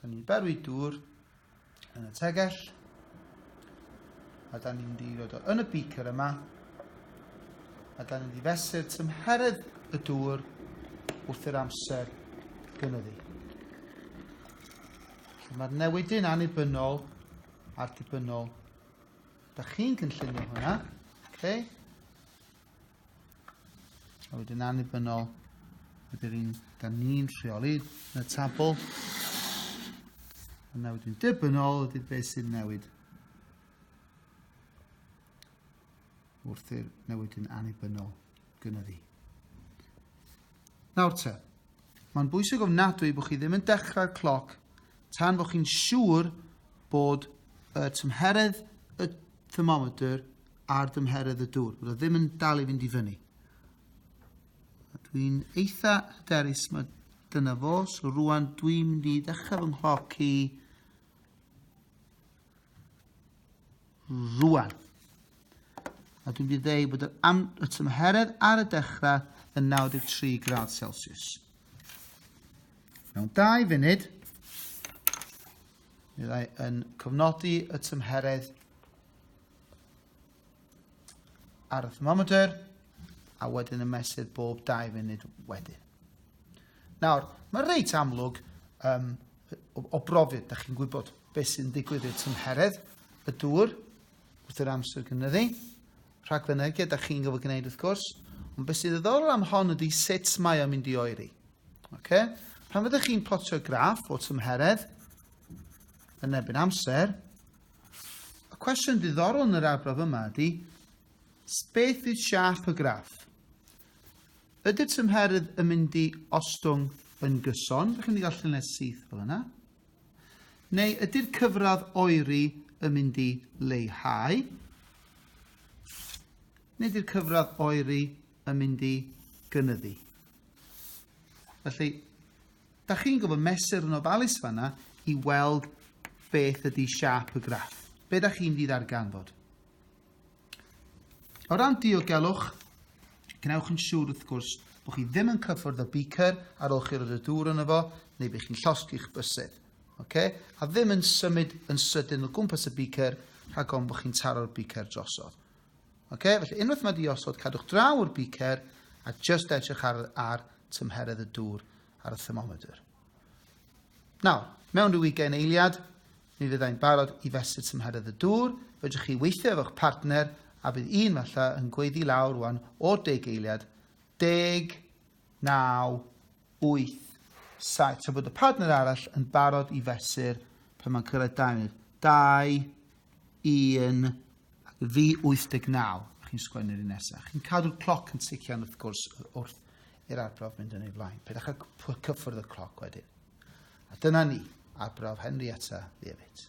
Da ni'n berwi dŵr yn y tegell. A da ni'n di roed o yn y beaker yma. A da ni'n di fesur tymheredd y dŵr wrth yr amser gynyddu. Mae'r newidyn annibynnol a'r dibynnol. Da chi'n cynllunio hwnna. Okay? A wedyn annibynnol, ydy'r un da ni'n rheoli yn y tabl. Yna wedyn dibynnol ydy beth sy'n newid wrth i'r newid yn annibynnol gynyddu. Nawr te, mae'n bwysig ofnadwy bod chi ddim yn dechrau'r cloc tan bod chi'n siŵr bod y tymheredd y thermometr ar dymheredd y dŵr. Bydd o ddim yn dal i fynd i fyny. Dwi'n eitha hyderus mae dyna fo. So rwan dwi'n mynd i ddechrau fy nghloc i rwan. A dwi'n mynd i ddeu bod y tymheredd ar y dechrau yn 93 gradd Celsius. Mewn dau funud, byddai yn cofnodi y tymheredd ar y thermometr a wedyn yn mesur bob 2 funud wedyn. Nawr, mae reit amlwg um, o, o brofiad, da chi'n gwybod beth sy'n digwydd i'r tymheredd, y dŵr, wrth yr amser gynyddu. Rhagfynegiad, da chi'n gofod gwneud wrth gwrs. Ond beth sy'n ddiddorol am hon ydy sut mae o'n mynd i oeri. Okay? Pan fyddwch chi'n plotio graff o tymheredd yn ebyn amser, Y cwestiwn diddorol yn yr arbrawf yma ydy, beth yw siâp y graff? Ydy'r tymheredd yn mynd i ostwng yn gyson, ydych chi'n mynd i gael lluniau syth fel yna? Neu ydy'r cyfradd oeri yn mynd i leihau? Neu ydy'r cyfradd oeri yn mynd i gynyddu? Felly, Da chi'n gwybod, mesur yn ofalus fanna i weld beth ydy siap y graff. Be da chi'n fydd arganfod? O ran diogelwch, gwnewch yn siŵr wrth gwrs bod chi ddim yn cyffwrdd y beaker ar ôl chi roed y dŵr yn efo, neu bydd chi'n llosgi'ch bysedd. Okay? A ddim yn symud yn sydyn o gwmpas y beaker rhag ofn bod chi'n taro'r beaker drosodd. Okay? Felly unwaith mae di osod, cadwch draw o'r beaker a just edrych ar, ar tymheredd y dŵr ar y thermometer. Nawr, mewn rhyw ugain eiliad, mi fyddai'n barod i fesur tymheredd y dŵr, fedrwch chi weithio efo'ch partner a bydd un falle yn gweiddi lawr rwan o deg eiliad, deg, naw, wyth, saith, tra bod y partner arall yn barod i fesur pan mae'n cyrraedd dau munud. Dau, un, ac fi 89, chi'n sgwennu'r un nesaf. Chi'n cadw'r cloc yn tician wrth gwrs wrth i'r arbrawf mynd yn ei flaen. Pydach a cyffwrdd y cloc wedyn. A dyna ni, arbrawf Henrietta Leavitt.